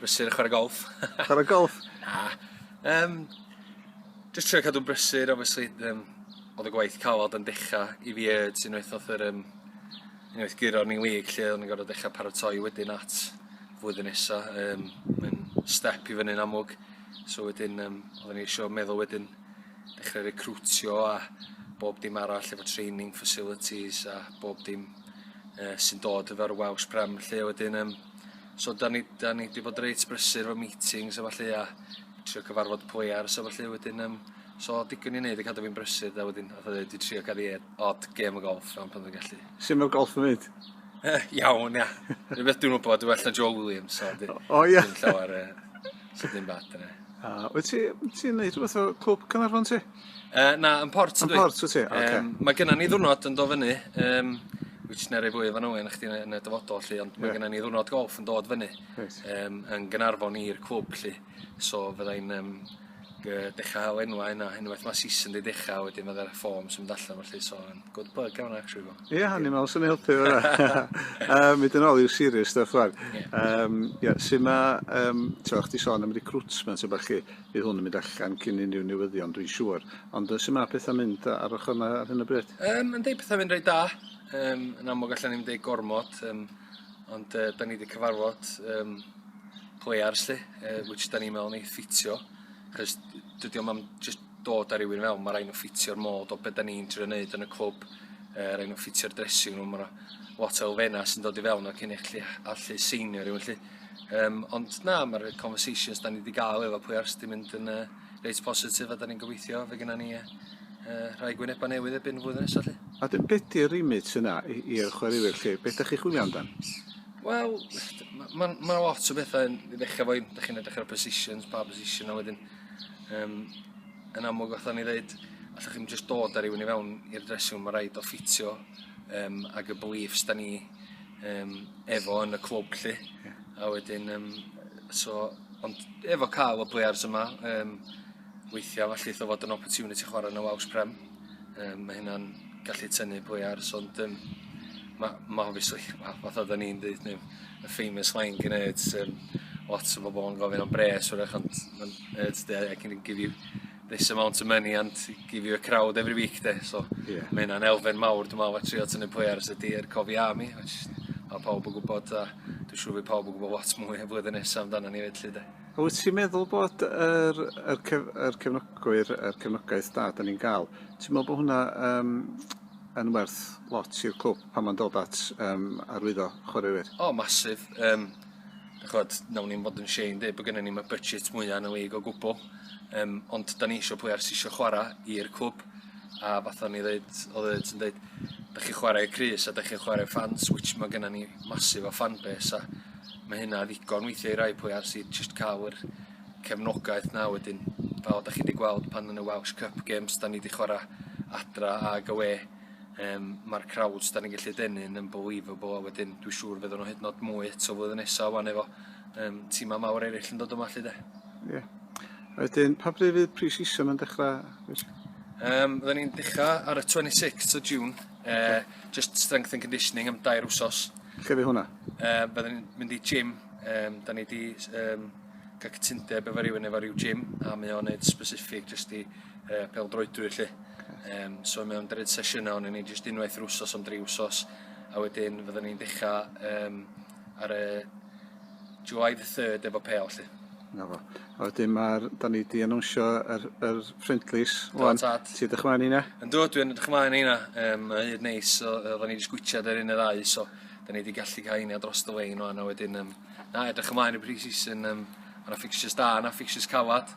Brysur a chwarae golf. chwarae golf? Na. Um, just trio cadw'n brysur, obviously, um, oedd y gwaith calod yn dechrau i fi yd sy'n oedd oedd yr um, unwaith guro ni wig lle o'n i'n gorfod dechrau paratoi wedyn at flwyddyn nesa. Um, Mae'n step i fyny'n amlwg. So wedyn, um, oedden ni eisiau meddwl wedyn dechrau recrwtio a bob dim arall efo training facilities a bob dim uh, sy'n dod efo'r Welsh Prem lle wedyn um, So 'dan ni 'dan ni 'di bod reit brysur efo meetings a ballu a trio cyfarfod players a ballu wedyn yym so digon i neud i cadw fi'n brysur 'de wedyn fatha ddeud dwi trio cael ie odd gêm o golff rhan pan dwi'n gallu. Su' ma'r golff yn mynd? Eh, iawn ia. Dwi beth dwi'n wybod dwi'n well na Joe Williams so dwi... O ia? ...dim llawer yy so dim bad yna. A wyt ti ti'n neud rhywbeth o Clwb Caernarfon ti? Uh, na, yn port ydw i. Yn port wyt ti? Oce. Okay. Um, mae gennym ni ddwrnod yn do fyny, um, which neu rei fwy o fanwy yn chdi yn y dyfodol lli, ond mae yeah. gennym ni ddwrnod golf yn dod fyny right. um, yn gynarfon i'r clwb lli. So fyddai'n um, dechrau enwa yna, unwaith mae season di dechrau, wedyn mae'r ffom sy'n mynd allan felly, so yn good bug iawn actually fo. Ie, yeah, hynny mewn sy'n helpu fo. um, Mynd yn ôl i'w serious stuff fan. Yeah. Um, yeah, sy'n ma, um, ti'n chdi sôn am recruitment yn bach chi, Bydd hwn yn mynd allan cyn unrhyw newyddion, dwi'n siŵr. Ond yy, sut mae pethau'n mynd ar ochr yna ar hyn o bryd? Um, yn deud pethau fynd rhaid da. Um, yn amlwg allan ni'n deud gormod, um, ond uh, da ni wedi cyfarfod um, players lle, uh, which da ni'n meddwl ni ffitio. Cys dydy o'm am just dod ar rywun mewn, mae rhaid nhw ffitio'r modd o beth da ni'n trio wneud yn y clwb. Uh, rhaid nhw ffitio'r dressing room, mae lot o elfennau sy'n dod i fewn o cyn eich allu seinio rhywun lle. Yym ond na ma'r yy conversations 'dan ni 'di ga'l efo pwy ars 'di mynd yn yy reit positif a 'dan ni'n gobeithio fe gynna ni yy yy rhai gwyneba' newydd erbyn flwyddyn nesa 'lly. A dyn be' 'di'r remit yna i i'r chwaraewyr 'lly be' 'dach chi chwilio amdan? Wel ma' ma' ma' lot o betha yn i ddechra efo 'dach chi'n edrych ar y positions pa bosision a wedyn yym yn amlwg fatha o'n i ddeud allwch chi'm jyst dod a rywun i fewn i'r dressing room ma' raid o ffitio yym ag y beliefs 'dan ni yym efo yn y clwb 'lly. Ie. A wedyn yym so ond efo ca'l y players yma yym weithia' ma' llith o fod yn opportunity chwara' yn y Wales Prem yym ma' hynna'n gallu tynnu players ond yym ma' ma' obviously ma' fatha oddan ni'n deud ne' y famous line gin Ed yym lot o bobol yn gofyn am bres 'w'rach ond ma'n Ed 'de I can give you this amount of money and give you a crowd every week 'de so... Ie. ...ma' hynna'n elfen mawr dwi me'wl a trio tynnu players y tir cofi am 'i which ma' pawb yn gwbod a dwi siŵr by' pawb yn gwbo lot mwy y flwyddyn nesa amdana ni 'fyd 'lly 'de? A wyt ti'n meddwl bod yr yr cef- yr cefnogwyr yr cefnogaeth da 'dan ni'n ga'l ti'n me'wl bo' hwnna yym yn werth lot i'r clwb pan ma'n dod at yym arwyddo chwaraewyr? O massive yym ch'od nawn ni'm fod yn shei yn deud bo' gynnon ni'm y budget mwya yn y league o gwbwl yym ond 'dan ni isio players sy isio chwara' i'r clwb a fatha o'n i ddeud odd e ti'n deud 'dach chi chwara' i'r crys a 'dach chi'n chwara' i'r ffans which ma' gynnon ni massive o fan base a ma' hynna ddigon weithia' i rai players i jyst ca'l yr cefnogaeth 'na wedyn fel 'dach chi 'di gweld pan yn y Welsh Cup games 'dan ni 'di chwara' adra ag awe Yym ma'r crowds 'dan ni'n gallu denu yn unbelievable a wedyn dwi siŵr fyddan nhw hyd yn o'd mwy eto flwyddyn nesa ŵan efo yym tima mawr eraill yn dod yma 'lly de. Ie. Wedyn pa bryd fydd pre-season yn dechra? Yym fyddan ni'n dechra ar y 26th o June yy okay. just strength and conditioning am dair wsos. Lle fydd hwnna? Yy byddan ni'n mynd i gym um, da ni wedi um, cael cytundeb efo rhywun efo rhyw gym a mae o'n neud specific jyst i uh, peldroedwyr lle. Um, so mae o'n dred sesiynau ond ni jyst unwaith yr wsos am dri wsos a wedyn fyddwn ni'n dechrau um, ar y July the 3rd efo pel lle. Na fo. A wedyn mae'r, da ni di anwnsio yr, yr ffrindlis. Do, Wan, tad. Ti ydych ymlaen i na? Yn dod, dwi'n ydych ymlaen i na. Um, mae hyd neis, so, da ni wedi sgwitiad ar un y ddau, so da ni wedi gallu cael un dros y lein o'n, a wedyn, um, na, edrych ymlaen i pre-season, um, a na fixtures da, na fixtures calad.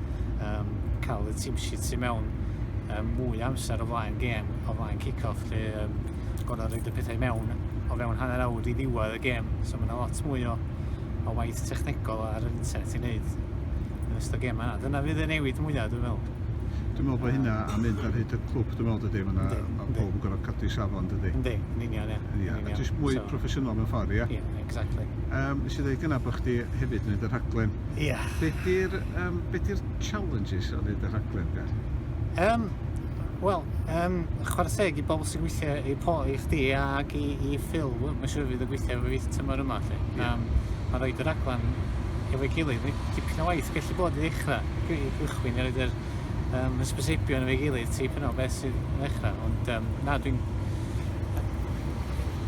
um, cael y team sheet sy'n mewn um, mwy amser o flaen gêm, o flaen kick-off, lle um, gorau rhaid y pethau mewn o fewn hanner awr i ddiwedd y gêm. So mae yna lot mwy o, o waith technegol ar yr internet i wneud yn ystod gêm yna. Dyna fydd y newid mwyaf, dwi'n meddwl. Dwi'n meddwl bod hynna a mynd ar hyd y clwb, dwi'n meddwl, dydy, mae yna pobl yn gorfod cadw i safon, dydy. Ynddi, yn union, ie. Ie, a jyst mwy proffesiynol mewn ffordd, ie? Ie, Exactly. Um, nes i ddweud gyna bod chdi hefyd yn neud y rhaglen. Ie. Yeah. Be di'r um, be di'r challenges o neud y rhaglen, Gar? Um, Wel, um, chwarae teg i bobl sy'n gweithio i po i chdi ac i, i Phil, mae'n siŵr fydd y gweithio efo fi tymor yma. Lle. Yeah. Um, mae rhaid y rhaglen efo'i gilydd, mae dipyn o waith gallu bod i ddechrau, i gychwyn, i roed yr um, ysbyseipio yn efo'i gilydd tipyn o beth sydd yn ddechrau. Ond um, na, dwi'n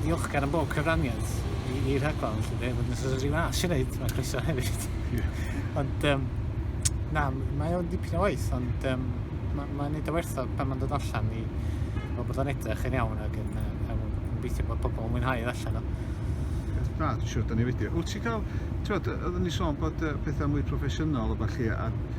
ddiolchgar am bob cyfraniad i, i rhaglen, felly fe, fod yn sort of rhyw as i wneud, mae croeso hefyd. Yeah. ond, um, na, mae o'n dipyn o waith, ond um, mae'n ma neud o wertho pan mae'n dod allan i fel bod o'n edrych yn iawn ac yn, uh, yn gobeithio bod pobl yn mwynhau edd allan o. Na, dwi'n siŵr, da ni wedi. Wyt ti'n cael, ti'n bod, oeddwn ni sôn bod uh, pethau mwy proffesiynol o falle, a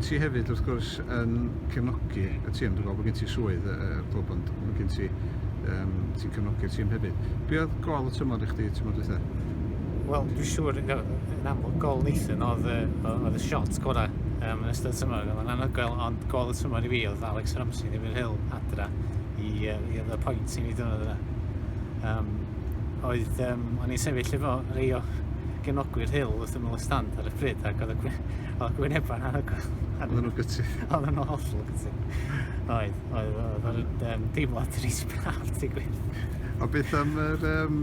Ti hefyd wrth gwrs yn cefnogi y tîm, dwi'n gweld bod gen ti swydd y uh, clwb ond mae gen ti, um, ti'n cefnogi'r tîm hefyd. Be oedd gol y tymor i chdi tymor dwytha? Wel, dwi'n siŵr yn, yn amlwg gol Nathan oedd, oedd y shot gorau um, yn ystod y tymor. Mae'n anhygoel, ond gol y tymor i fi oedd Alex Ramsey neu Hill adra i, uh, i oedd y pwynt i ni dynod yna. um, oedd, um, o'n i'n sefyll efo rei o genogwyr hil wrth ymwyl y stand ar y pryd, ac oedd y gwynebau na hygoel. Oedd nhw'n gytu. Oedd nhw'n hollol gytu. Oedd, oedd, oedd, oedd, um, deimlad rhys braf, ti gwir. O beth am yr... Um,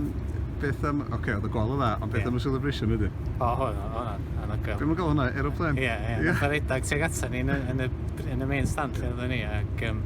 beth am... Oce, okay, oedd y gol o dda, ond beth yeah. am y celebration wedyn? O, hwn, hwnna, hwnna gael. Beth mae'n gael hwnna? Aeroplane? Ie, ie. Nath ar edag tuag atan ni yn y, yn y, yn y main stand lle oedden ni, ac... Um,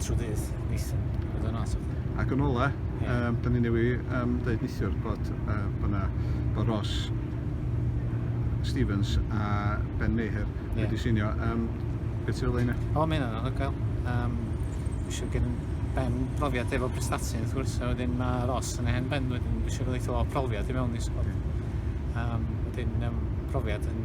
Trydydd, Nathan. Oedd o'n awesome. Ac yn ola, yeah. um, da ni newi um, dweud nithiwr bod uh, byna, bod Ross Stevens a Ben Meher yeah. wedi sinio. Um, beth sy'n olau yna? O, mae hynny'n anhygoel. Um, Fysio gen Ben profiad efo prestasi, wrth gwrs, a wedyn mae Ross yn eich Ben, wedyn fysio gael eitha o profiad i mewn i sgwad. Um, wedyn um, profiad yn